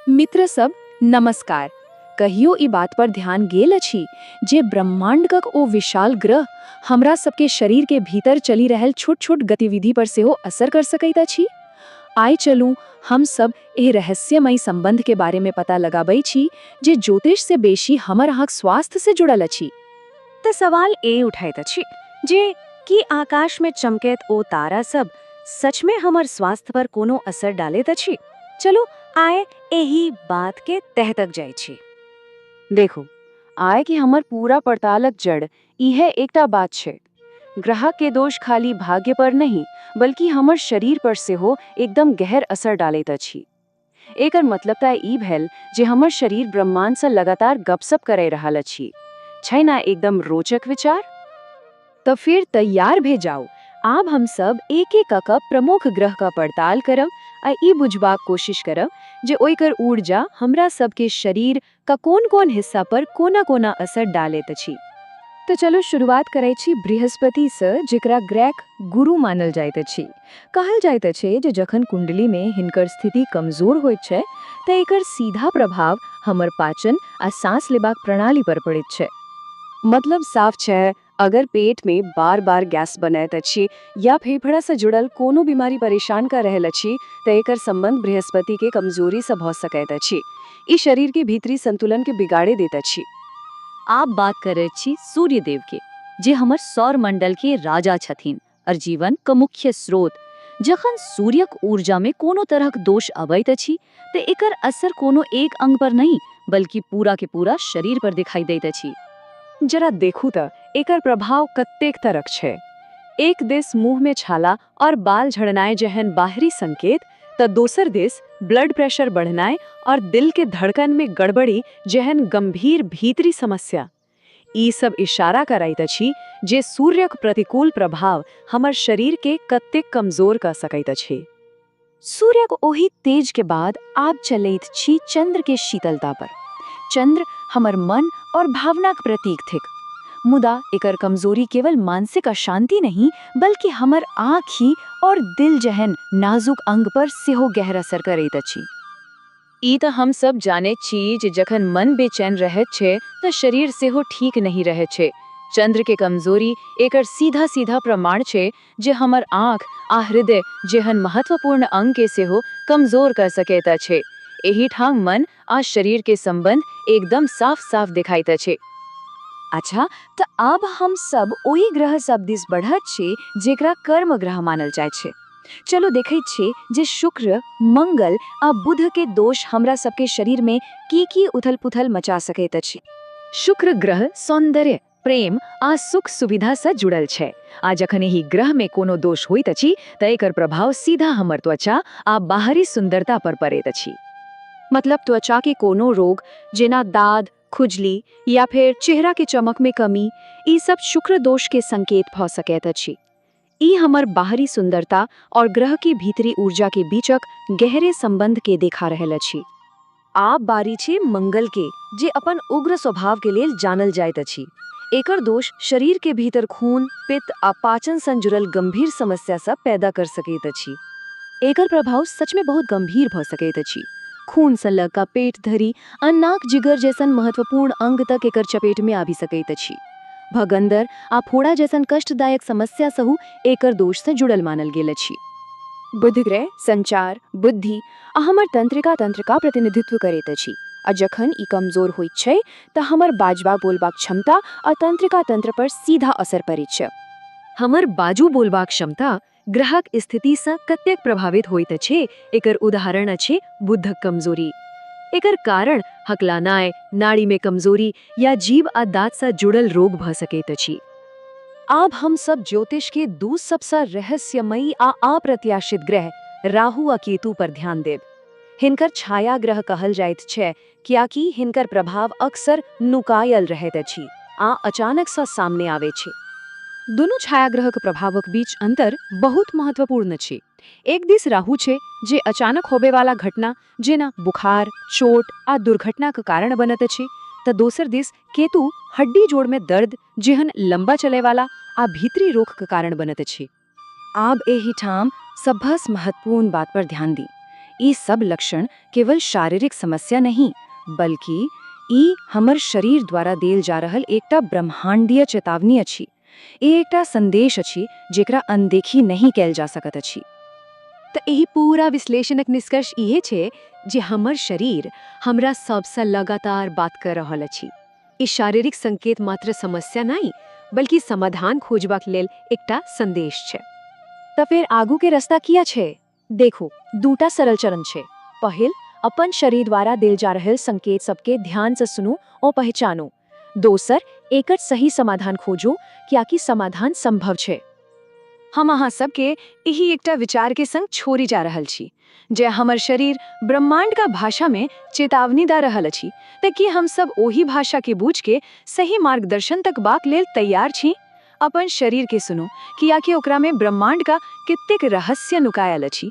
मित्र सब नमस्कार कहियो ई बात पर ध्यान गेल अछि जे ब्रह्मांडक ओ विशाल ग्रह हमरा सबके शरीर के भीतर चलि रहल छोट छोट गतिविधि पर सेहो असर कर सकैत अछि आइ चलू हम सब एह रहस्यमय संबंध के बारे में पता लगाबै छी जे ज्योतिष से बेसी हमर अहाँक स्वास्थ्य से जुड़ल अछि त सवाल ए उठैत अछि जे की आकाश में चमकैत ओ तारा सब सच में हमर स्वास्थ्य पर कोनो असर डालैत अछि चलू आय एही बात के तह तक जाइ छी देखू आय कि हमर पूरा पड़तालक जड़ इहे एकटा बात छै ग्राहक के दोष खाली भाग्य पर नहीं बल्कि हमर शरीर पर सेहो एकदम गहर असर डालैत अछि एकर मतलब तऽ ई भेल जे हमर शरीर ब्रह्मांड से लगातार गपशप करै रहल अछि छै ना एकदम रोचक विचार त फेर तैयार भे जाउ। आब हम सब एक-एक क क प्रमुख ग्रह क पड़ताल करब आ ई बुझबाक कोशिश करब जे ओइकर ऊर्जा हमरा सब के शरीर क कोन-कोन हिस्सा पर कोना-कोना असर डालैत अछि। त चलू शुरुआत करैत छी बृहस्पति स जेकरा ग्रैक गुरु मानल जाइत अछि। कहल जाइत अछि जे जखन कुंडली में हिनकर स्थिति कमजोर होइत छै त एकर सीधा प्रभाव हमर पाचन आ सांस लेबाक प्रणाली पर पड़ैत छै। मतलब साफ छै अगर पेट में बार बार गैस बनैत अछि या फेफड़ा से जुड़ल कोनो बीमारी परेशान कर रहल अछि त एकर संबंध बृहस्पति के कमजोरी से भ सकैत अछि। ई शरीर के भीतरी संतुलन के बिगाड़े देत अछि। आप बात करैत छी सूर्य देव के जे हमर सौर मंडल के राजा छथिन। अर जीवन क मुख्य स्रोत। जखन सूर्यक ऊर्जा मे कोनो तरहक दोष अबैत अछि त एकर असर कोनो एक अंग पर नहि बल्कि पूरा के पूरा शरीर पर देखाई दैत अछि। जरा देखू त एकर प्रभाव कतेक तरक छै। एक दिस मुंह मे छाला अर बाल झड़नाय जेहन बाहरी संकेत त दोसर दिस ब्लड प्रेशर बढ़नाय अर दिल के धड़कन मे गड़बड़ी जेहन गंभीर भीतरी समस्या। ई सब इशारा करैत अछि जे सूर्यक प्रतिकूल प्रभाव हमर शरीर के कतेक कमजोर क सकैत अछि। सूर्यक ओहि तेज के बाद आब चलैत छी चंद्र के शीतलता पर। चंद्र हमर मन और भावना क प्रतीक थिक। मुदा एकर कमजोरी केवल मानसिक अशांति नहि, बल्कि हमर आँखि और दिल जेहन नाजुक अंग पर सेहो गहर असर करैत अछि। ई तँ हम सभ जानैत छी जे जखन मन बेचैन रहैत छै तँ शरीर सेहो ठीक नहि रहैत छै। चन्द्र के कमजोरी एकर सीधा-सीधा प्रमाण छै जे हमर आँख आ हृदय जेहन महत्वपूर्ण अंग के सेहो कमजोर कऽ सकैत अछि। एहि ठाम मन आ शरीर के संबंध एकदम साफ-साफ देखाइत अछि। अच्छा, तँ आब हम सभ ओहि ग्रह सभ दिस बढ़ैत छी जेकरा कर्म ग्रह मानल जाइत छै। चलू देखैत छी जे शुक्र, मंगल आ बुध के दोष हमरा सबके शरीर में की-की उथल-पुथल मचा सकैत अछि। शुक्र ग्रह सौन्दर्य, प्रेम आ सुख-सुविधा स जुड़ल छै आ जखन एहि ग्रह में कोनो दोष होइत अछि त एकर प्रभाव सीधा हमर त्वचा आ बाहरी सुन्दरता पर पड़ैत अछि। मतलब त्वचा के कोनो रोग, जेना दाद, खुजली या फेर चेहरा के चमक में कमी, ई सब शुक्र दोष के संकेत भ सकैत अछि। ई हमर बाहरी सुंदरता और ग्रह के भीतरी ऊर्जा के बीचक गहरे संबंध के देखा रहल अछि। आब बारी छै मंगल के, जे अपन उग्र स्वभाव के लेल जानल जाइत अछि। एकर दोष शरीर के भीतर खून, पित्त आ पाचन सँ जुड़ल गंभीर समस्या सब पैदा कर सकैत अछि। एकर प्रभाव सच में बहुत गंभीर भ सकैत अछि, खून सँ ल क पेट धरि। अन्नाक जिगर जैसन महत्वपूर्ण अंग तक एकर चपेट मे आबि सकैत अछि। भगंदर आ फोड़ा जैसन कष्टदायक समस्या सहु एकर दोष सँ जुड़ल मानल गेल अछि। बुधग्रह संचार, बुद्धि आ हमर तंत्रिका तंत्रका प्रतिनिधित्व करैत अछि आ जखन ई कमजोर होइत छै त हमर बाजबा बोलबाक क्षमता आ तंत्रिका तंत्र पर सीधा असर पड़ैछ। हमर बाजु बोलबाक क्षमता ग्रहक स्थितिसँ कतेक प्रभावित होइत अछि एकर उदाहरण अछि बुधक कमजोरी। एकर कारण हकलानाय, नाड़ीमे कमजोरी या जीभ आ दाँतसँ जुड़ल रोग भऽ सकैत अछि। आब हम सभ ज्योतिषके दू सभसँ रहस्यमयी आ अप्रत्याशित ग्रह राहु आ केतु पर ध्यान देब। हिनकर छायाग्रह कहल जाइत छै कियाकि हिनकर प्रभाव अक्सर नुकायल रहैत अछि आ अचानक सँ सामने आवे छै। दुनू छायाग्रहक प्रभावक बीच अंतर बहुत महत्वपूर्ण छै। एक दिस राहु छै जे अचानक होबे वाला घटना जेना बुखार, चोट आ दुर्घटनाक कारण बनत अछि त दोसर दिस केतु हड्डी जोड़ मे दर्द जेहन लंबा चलय वाला आ भीतरी रोग क कारण बनत अछि। आब एहि ठाम सभस महत्वपूर्ण बात पर ध्यान दी। ई सब लक्षण केवल शारीरिक समस्या नहि, बल्कि ई हमर शरीर द्वारा देल जा रहल एकटा ब्रह्मांडीय चेतावनी अछि। ई एकटा संदेश अछि जेकरा अनदेखी नहि कएल जा सकत अछि। त एहि पूरा विश्लेषणक निष्कर्ष इहे छै जे हमर शरीर हमरा सबस लगातार बात क रहल अछि। ई शारीरिक संकेत मात्र समस्या नहि, बल्कि समाधान खोजबाक लेल एकटा संदेश छै। त फेर आगू के रस्ता किया छै? देखू, दूटा सरल चरण छै। पहिल, अपन शरीर द्वारा देल जा रहल संकेत सब के ध्यान स सुनू ओ पहचानू। दोसर, एकर सही समाधान खोजू, कियाकि समाधान संभव छै। हम अहाँ सब के एहि एकटा विचार के संग छोड़ि जा रहल छी, जँ हमर शरीर ब्रह्माण्डक भाषामे चेतावनी दऽ रहल अछि तँ की हम सभ ओहि भाषाकेँ बूझि कऽ सही मार्गदर्शन तकबाक लेल तैयार छी? अपन शरीरकेँ सुनू, किएकि ओकरामे ब्रह्माण्डक कतेक रहस्य नुकायल अछि।